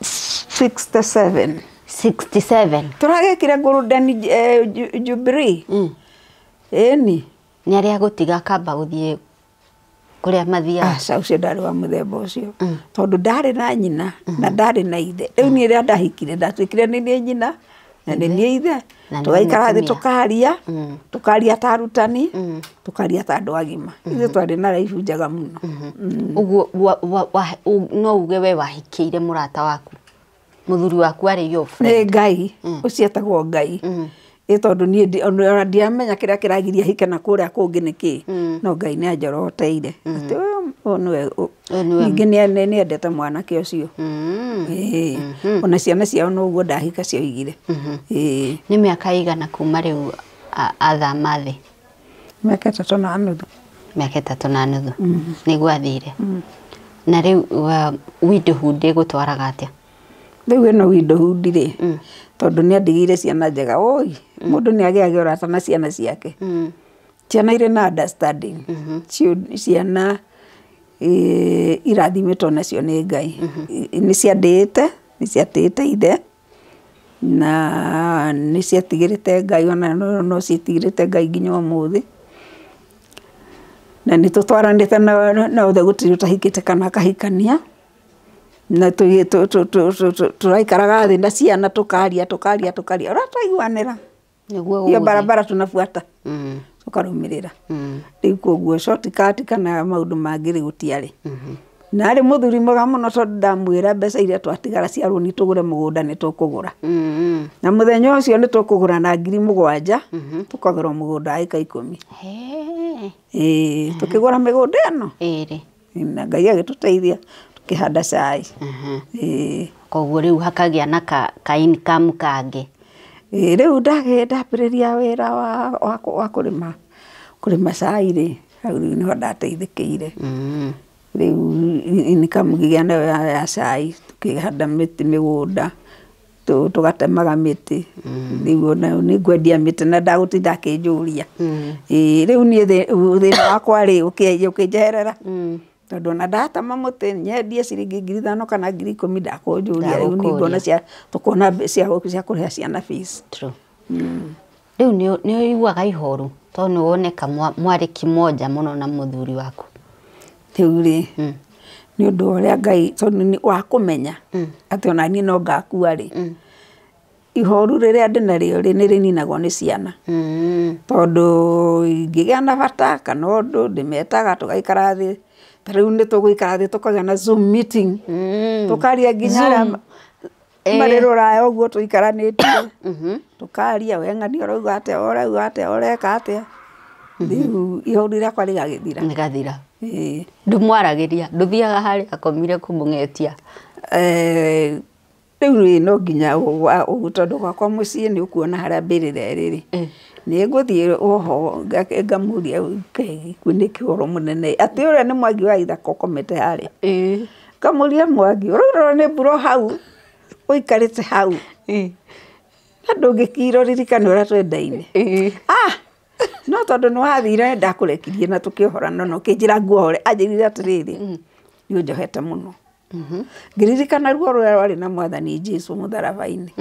67 67 tũragĩkire golden eh, ju- jubilee ĩni nĩ arĩa gũtiga akamba gũthiĩ kũrĩa mathiaga aca ũcio ndarĩ wa mũthemba ũcio tondũ ndarĩ na nyina na ndarĩ na ithe rĩu niĩ rĩrĩa ndahikire ndatuĩkire nĩ niĩ nyina na nĩ niĩ ithe Na nĩ tũgaikara thĩ mũtumia. tũkaria tũkaria ta arutani tũkaria ta andũ agima ithuĩ twarĩ na raibu njega mũno ũguo wa- wa- wa- u- no uge we wahikĩire mũrata waku Mũthuri waku arĩ your friend. Nĩ Ngai, mm. ũcio etagwo Ngai. Mm. Ĩ tondũ niĩ ona ndiamenya kĩrĩa kĩragiria hike na kũrĩa kũngĩ nĩ kĩ. Mm. No Ngai nĩ anjoroteire. Mm. Atĩ ũyũ nĩwe ningĩ nĩ endete mwanake ũcio. Mm. Ĩ. Mm-hmm. Ona ciana ciao no ũguo ndahika cioigire. Mm-hmm. Ĩ. Nĩ mĩaka ĩigana kuma rĩu athama thĩ? mĩaka ĩtatũ na nuthu mĩaka ĩtatũ na nuthu nĩguo athire na rĩu wa- widowhood ĩgũtwaraga atĩa rĩu ĩno widowhood rĩ tondũ nĩ andigĩire ciana njega ũi mũndũ nĩ agĩaga ũrata na ciana ciake Mm. ciana irĩ na understanding Ciũ- ciana eh, irathimĩtwo nacio nĩ ngai I- nĩ ciandĩĩte nĩ ciatĩĩte ithe Na nĩ ciatigĩrĩte Ngai ona no ciatigĩrĩte Ngai nginya ũmũthĩ. Na nĩ tũtwaranĩte na othe gũtirĩ ũtahikĩte kana akahikania. Na tũraikaraga thĩ na ciana tũkaria tũkaria tũkaria ũrĩa twaiguanĩra. Nĩguo hiyo gũgũthiĩ. barabara tunabuata Mm. tũkarũmĩrĩra Mm. rĩu koguo shortcut kana maũndũ mangĩ rĩ gũtiarĩ na arĩ mũthuri mwega mũno tondũ ndamwĩra mbeca iria twatigara cia rũni tũgũre mũgũnda nĩ tũkũgũra Mm. na mũthenya ũcio nĩ tũkũgũra na ngiri mũgwanja tũkagũra mũgũnda wa ĩka ikũmi Hee. Ĩĩ, tũkĩgũra mĩgũnda ĩno Ĩrĩ. Na Ngai agĩtũteithia tũkĩhanda cai. Ĩĩ. Koguo rĩu hakagĩa na ka, ka income kangĩ. Ĩĩ rĩu ndagĩ, ndambĩrĩria wĩra wa, wa, wa kũrĩma, kũrĩma cai rĩ, hau rĩu nĩho ndateithĩkĩire. Rĩu income ngĩgĩa nayo ya cai, tũkĩhanda mĩtĩ mĩgũnda. tũgatemaga mĩtĩ, rĩu ona nĩ kwendia mĩtĩ na ndagũtinda akĩnjũria. Ĩĩ rĩu niĩ thĩna wakwa rĩ, ũkĩnjeherera, tondũ ona ndatema mũtĩ nyendie ciringi ngiri ithano kana ngiri ikũmi ndakũnjũria, rĩu nĩ ngwona cia kũrĩha ciana fees. Rĩu nĩ nĩ ũiguaga ihoru to nĩ woneka mwa- mwarĩ kĩmonja mũno na mũthuri waku rĩu rĩ nĩ ũndũ wa ũrĩa ngai tondũ nĩ- wa kũmenya atĩ ona niĩ no ngakua rĩ ihoru rĩrĩa ndĩ narĩo rĩ nĩ rĩninagwo nĩ ciana Mm. tondũ ingĩgĩa na bata kana ũndũ ndĩmetaga tũgaikara thĩ ta rĩu nĩ tũgũikara thĩ tũkagĩa na zoom meeting tũkaria nginya arĩa ma- Kuma rĩ rũraya ũguo tũikaranĩtie, tũkaria, we ng'ania ũrauga atĩa, we ũrauga atĩa, ũreka atĩa, rĩu ihoru rĩakwa rĩgagĩthira. Rĩgathira. Ĩĩ. Ndũmwaragĩria, ndũthiaga harĩa akomire kũmũng'etia. Rĩu rĩ, no nginya tondũ gwakwa mũciĩ nĩ ũkuona harĩa mbĩrĩra ĩrĩ rĩ, nĩ ngũthiĩ o ho ngamũria, Ngai wĩ nĩkĩ ũhoro mũnene ĩ, atĩ ũrĩa nĩ Mwangi wa Ithaka ũkomete harĩa? Ngamũria Mwangi, ũraura ona nĩ mbura o hau? Ũikarĩte hau? Na ndũngĩkira ũririkane ũrĩa twendaine? Ah! No tondũ nĩ wathire ndakũrekirie na tũkĩohorana na ũkĩnjĩra nguohore. Anjĩrire atĩrĩrĩ, nĩ ũnjohete mũno. Ngĩririkana ruo rũrĩa rwarĩ na Mwathani Jesu mũtharaba-inĩ.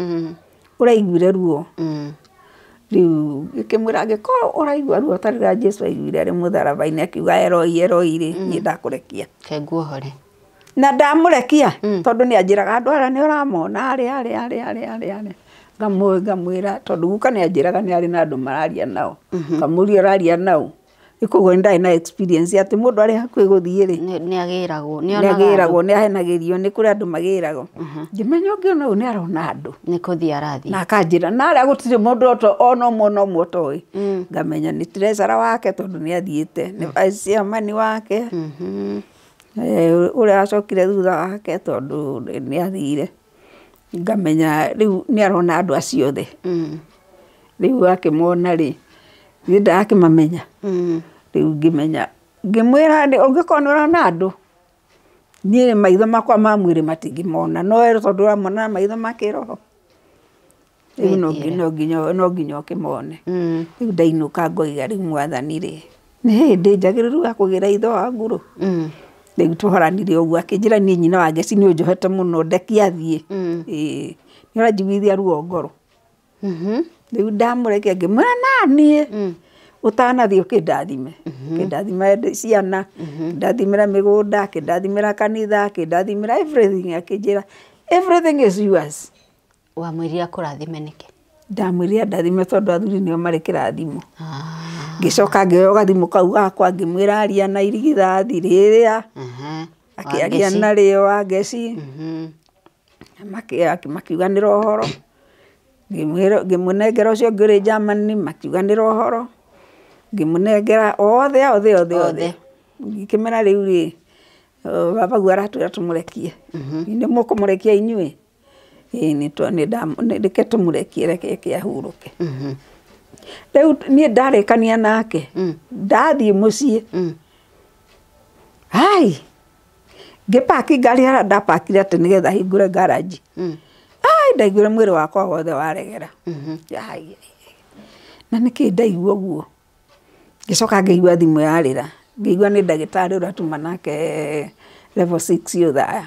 ũraiguire ruo? Rĩu ngĩkĩmwĩra angĩkorwo ũraigua ruo ta rũrĩa Jesu aiguire arĩ mũtharaba-inĩ akiuga Eloi Eloi rĩ, niĩ ndakũrekia. Reke nguohore. Na ndamũrekia tondũ nĩ anjĩraga andũ arĩa nĩ ũramona arĩa arĩa arĩa arĩa arĩa arĩa. Ngamwĩra tondũ guka nĩ anjĩraga nĩ arĩ na andũ mararia nao. Ngamũria ũraria naũ? Rĩu koguo nĩ ndarĩ na experience atĩ mũndũ arĩ hakuhĩ gũthiĩ rĩ, Nĩ nĩ agĩragwo. Nĩ nĩ onaga andũ. agĩragwo, nĩ ahenagĩrio, nĩ kũrĩ andũ magĩragwo. Ngĩmenya ũngĩona ũyũ nĩ arona andũ. Nĩ kũthiĩ arathiĩ. Na akanjĩra, na arĩa gũtirĩ mũndũ o ta- ona ũmwe ona ũmwe ũtoĩ. Ngamenya nĩ treasurer wake tondũ nĩ athiĩte, nĩ vice chairman wake, Mhm. eh, ũrĩa wacokire thutha wake tondũ nĩ athire. ngamenya rĩu nĩ arona andũ acio othe. Rĩu akĩmona rĩ, niĩ ndarakĩmamenya, rĩu ngĩmenya, ngĩmwĩra nĩ ũngĩkorwo nĩ ũrona andũ, niĩ maitho makwa ma mwĩrĩ matingĩmona no we tondũ ũramona na maitho ma kĩroho. rĩu no ngi- no nginya- no nginya ũkĩmone. Rĩu ndainũka ngoiga rĩu mwathani rĩ, nĩ hĩndĩ njagĩrĩru ya kũgĩra ithe wangu rũ? Rĩu twaranire ũguo akĩnjĩra niĩ nyina wa Ngeci nĩ ũnjohete mũno ndeke athiĩ. Ĩĩ. Nĩ ũranjiguithia ruo ngoro. Rĩu ndamũreke ngĩmwĩra naniĩ ũtanathiĩ ũkĩndathime. Ũkĩndathimĩre ndĩ- ciana, ũkĩndathimĩre mĩgũnda, ũkĩndathimĩre kanitha, ũkĩndathimĩre everything akĩnjĩra everything is yours. Wamwĩrire akũrathime nĩkĩ? Ndamwĩrire andathime tondũ athuri nĩo marĩ kĩrathimo. Ah. Ngĩcoka ngĩoya gathimũ kau gakwa ngĩmwĩra aria na irigithathi rĩrĩa akĩaria narĩo Wangeci mhm. makiuganĩra ũhoro ngĩmũnengera ũcio ũngĩ ũrĩ Germany makiuganĩra ũhoro ngĩmũnengera othe othe othe othe ngĩkĩmera rĩu rĩ babaguo aratwĩra tũmũrekie mhm. nĩ mũkũmũrekia inyuĩ Ĩĩ nĩ twa, nĩ nda, reke tũmũrekie reke eke ahurũke. Rĩu niĩ ndarĩkania nake, ndathiĩ mũciĩ, hai! Ngĩ park ngari harĩa nda park ire atĩ nĩgetha hingũre ngaranji. Hai! Ndaiguire mwĩrĩ wakwa wothe waregera. Yai! Na nĩkĩ ndaigua ũguo? Ngĩcoka ngĩigua thimũ yarĩra, ngĩigua nĩ ndagĩtarĩ ũratuma nake level six othaya.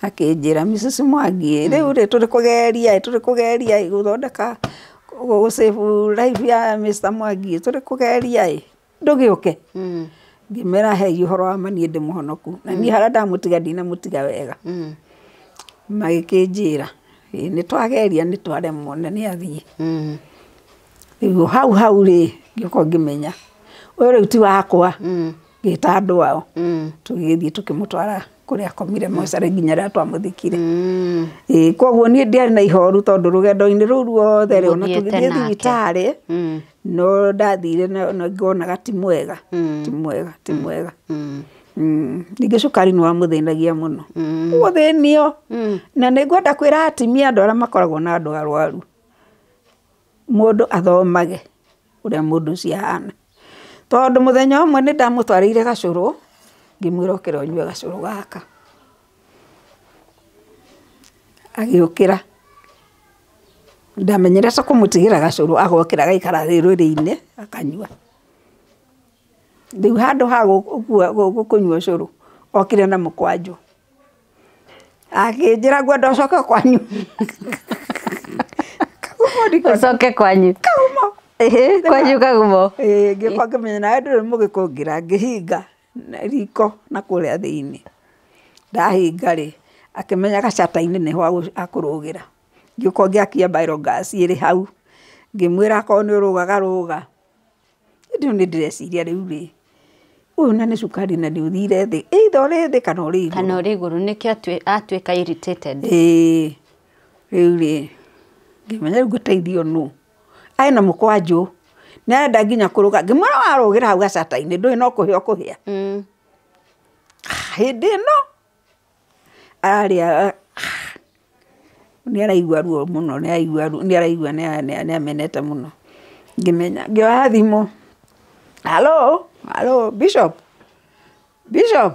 Akĩnjĩra Mrs. Mwangi ĩ, rĩu rĩ tũrĩ kũgeria ĩ, tũrĩ kũgeria ĩ gũthondeka, gũ save life ya Mister Mwangi ĩ, tũrĩ kũgeria ĩ, ndũgĩũke. Ngĩmera he ũhoro wa ma niĩ ndĩ mũhonoku. Na niĩ harĩa ndamũtiga ndinamũtiga wega. Magĩkĩnjĩra, ĩ nĩ twageria nĩ twaremwo na nĩ athiĩ. Rĩu hau hau rĩ, ngĩũka ngĩmenya ũyũ rĩu ti wakwa, ngĩta andũ ao tũgĩthiĩ tũkĩmũtwara kũrĩa akomire mocarĩ nginya rĩrĩa twamũthikire. Ĩĩ koguo niĩ ndiarĩ na ihoru tondũ rũgendo-inĩ rũu ruothe rĩ, o na tũgĩthiĩ thibitarĩ, no ndathire na ngonaga ti mwega, ti mwega, ti mwega. Ningĩ cukari nĩ wamũthĩnagia mũno. Gũthĩnio! Na nĩ ngwenda kwĩra atimia andũ arĩa makoragwo na andũ arũaru. mũndũ athomage ũrĩa mũndũ ũcio ahana. Tondũ mũthenya ũmwe nĩ ndamũtwarĩire gacũrũ, ngĩmwĩra ũkĩra ũnyue gacũrũ gaka. Agĩũkĩra. Ndamenyire ta kũmũtigĩra gacũrũ agokĩra agaikara thĩ rwĩrĩ-inĩ akanyua. Rĩu handũ ha gũkua gũkũnyua ũcũrũ, okire na mũkwanjũ. akĩnjĩra ngwenda ũcoke kwanyu kagumo ndiko ũcoke kwanyu kagumo Ĩhĩ, kwanyu kagumo Ĩĩ, ngĩũka ngĩmenya nawe ndũrĩ mũgĩkũngĩra ngĩhinga na riko na kũrĩa thĩinĩ ndahinga rĩ akĩmenya gacata-inĩ nĩho agũ- akũrũgĩra ngĩũka ngĩakia mbaĩro ngaci ĩrĩ hau ngĩmwĩra akorwo nĩ ũrũgaga rũga Rĩu nĩ ndĩreciria rĩu rĩ, ũyũ na nĩ cukari na nĩ ũthire thĩ, either ũrĩ thĩ kana ũrĩ igũrũ. Kana ũrĩ igũrũ nĩkĩo atuĩka irritated. Ĩĩ, rĩu rĩ, ngĩmenya rĩu ngũteithio nũ? Arĩ na mũkwanjũ, nĩ arenda nginya kũrũga, ngĩmwĩra warũgĩra hau gacata-inĩ ndũĩ no kũhĩa ũkũhĩa. Hĩndĩ ĩno! Arĩa nĩ araigua ruo mũno nĩ araigua ruo nĩ araigua nĩ amenete mũno ngĩmenya ngĩoya thimũ halo halo Bishop Bishop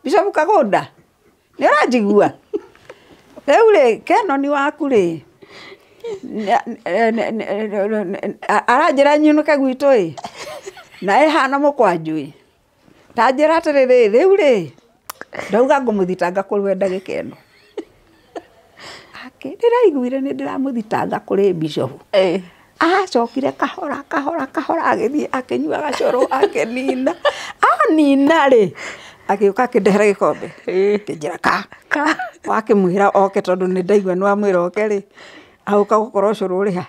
Bishop Kagũnda nĩ ũranjigua rĩu rĩ Kenoni waku rĩ aranjĩra nyinũke gwitũ ĩ na ĩhana mũkwanjũ ĩ. Ta njĩra atĩrĩ rĩ, rĩu rĩ, ndauga ngũmũthitanga kũrwenda gĩkeno. Akĩ, ndĩraiguire nĩ ndĩramũthitanga kũrĩ Bishop. Acokire kahora kahora kahora agĩthiĩ akĩnyua gacoro akĩnina. Anina rĩ, agĩũka akĩndehera gĩkombe. Akĩnjĩra ka, ka. Wakĩmwĩra oke tondũ nĩ ndaigua nĩ wamwĩra oke rĩ, agĩũka gũkora ũcũrũ ũrĩ ha?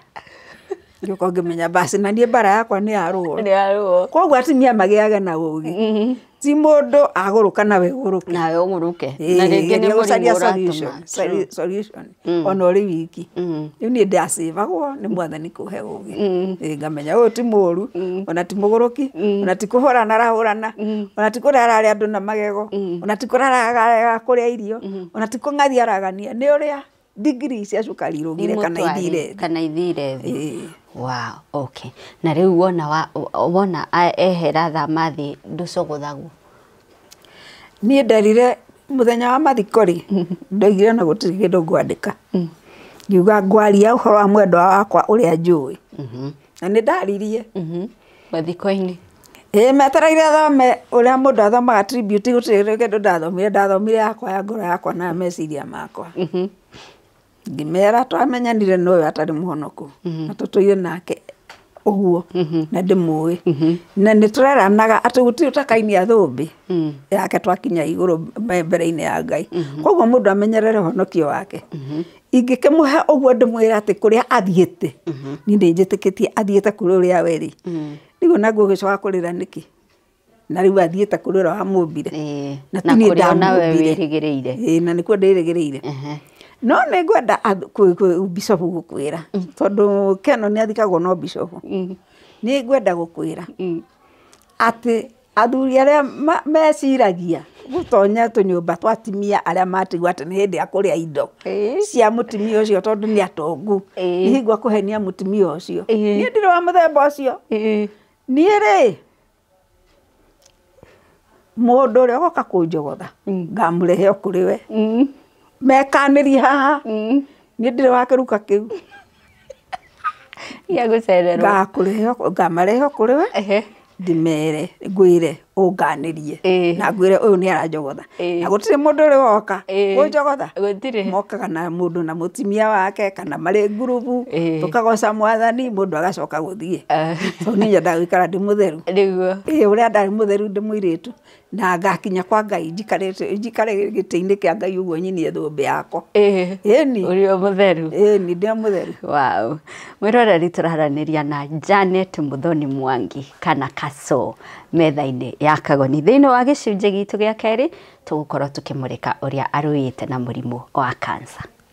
ngĩũka ngĩmenya basi na niĩ mbara yakwa nĩ ya ruo nĩ ya ruo koguo atumia magĩage na ũgĩ Mhm. ti mũndũ agũrũka nawe ũgũrũke nawe ũgũrũke na rĩngĩ nĩ geria mũrimũ gũcaria ũratũma solution, solu- solution Mm. ona ũrĩ wiki Mm. rĩu niĩ ndacĩbagwo nĩ mwathani kũhe ũgĩ Mm. Ĩ, ngamenya ũyũ ti mũru Mm. ona ti mũgũrũki Mm. ona ti kũhũrana arahũrana Mm. ona ti kũrara arĩa andũ na magego Mm. ona ti kũraraga kũrĩa irio ona ti kũng'athi aragania nĩ ũrĩa ndigiri cia cukari irũgire kana imũtware, ithire thĩ. kana ithire thĩ Ĩĩ. wow okay na rĩu wona wa, wona a- ehera thama thĩ ndũcogothagwo niĩ nderire mũthenya wa mathiko rĩ ndoigire na gũtirĩ kĩndũ ngwandĩka ngiuga ngwaria ũhoro wa mwendwa wakwa ũrĩa njũĩ Mhm. na nĩ ndaririe Mhm. mathiko-inĩ ĩĩ metereire thome ũrĩa mũndũ athomaga tribute gũtirĩ rĩngĩ ũndũ ndathomire ndathomire yakwa ya ngoro yakwa na meciria makwa Mhm. ngĩmera twamenyanire na ũyũ atarĩ mũhonoku na tũtũire nake ũguo na ndĩmũĩ na nĩ tũreranaga atĩ gũtirĩ ũtakainia thũmbĩ Mm. yake twakinya igũrũ mbe- mbere-inĩ ya ngai koguo mũndũ amenyerere ũhonokio wake ingĩkĩmũhe ũguo ndĩmwĩra atĩ kũrĩa athiĩte niĩ nĩ njĩtĩkĩtie athiĩte kũrĩ ũrĩa we rĩ rĩu ona ngũgĩcoka kũrĩra nĩkĩ na rĩu athiĩte kũrĩ ũrĩa wamũmbire Ĩĩ, na na ti niĩ kũrĩa ona we ndamũmbire. wĩrĩgĩrĩire Ĩĩ, na nĩkuo ndĩrĩgĩrĩire Ehe. no nĩ ngwenda ath- kwĩ- kwĩ- bicobu gũkwĩra tondũ keno nĩ athikagwo no bicobu nĩ ngwenda gũkwĩra atĩ Athuri arĩa meciragia gũtonya tũnyũmba twa atumia arĩa matigwo atĩ nĩ hĩndĩ a kũrĩa indo cia mũtumia ũcio tondũ nĩ atongu, hingo akũhenia mũtumia ũcio. Niĩ ndirĩ wa mũthemba ũcio. Niĩ rĩ, mũndũ ũrĩa ũgoka kũnjogotha, ngamũrehe o kũrĩ we. Mekanĩrie haha, niĩ ndirĩ wa kĩruka kĩu. Gĩa gũcererwo. Ngakũrehe o- ngamarehe o kũrĩ we Ehe. ndĩmere ngwĩre ũnganĩrie Ĩĩ. na ngwĩre ũyũ nĩ aranjogotha Ĩĩ. na gũtirĩ mũndũ ũrĩ woka Ĩĩ. kũnjogotha Gũtirĩ. mokaga na mũndũ na mũtumia wake kana marĩ ngurubu Ĩĩ. tũkagoca mwathani mũndũ agacoka gũthiĩ Ah. tondũ nĩ nyendaga gũikara ndĩ mũtheru Nĩguo. ĩĩ ũrĩa ndarĩ mũtheru ndĩ mũirĩtu Na ngakinya kwa Ngai njikarĩte njikare gĩtĩ-inĩ kĩa Ngai ũguo nyinie thũmbĩ yakwa. Ĩĩ. Ĩni. Ũrĩ o mũtheru. Ĩni ndĩ o mũtheru. Wow. Mwĩroreri tũraranĩria na Janet Muthoni Mwangi kana Kaso metha-inĩ ya Kagoni. Thĩinĩ wa gĩcunjĩ gitũ gĩa kerĩ tũgũkorwo tũkĩmũrĩka ũrĩa arũĩte na mũrimũ wa cancer.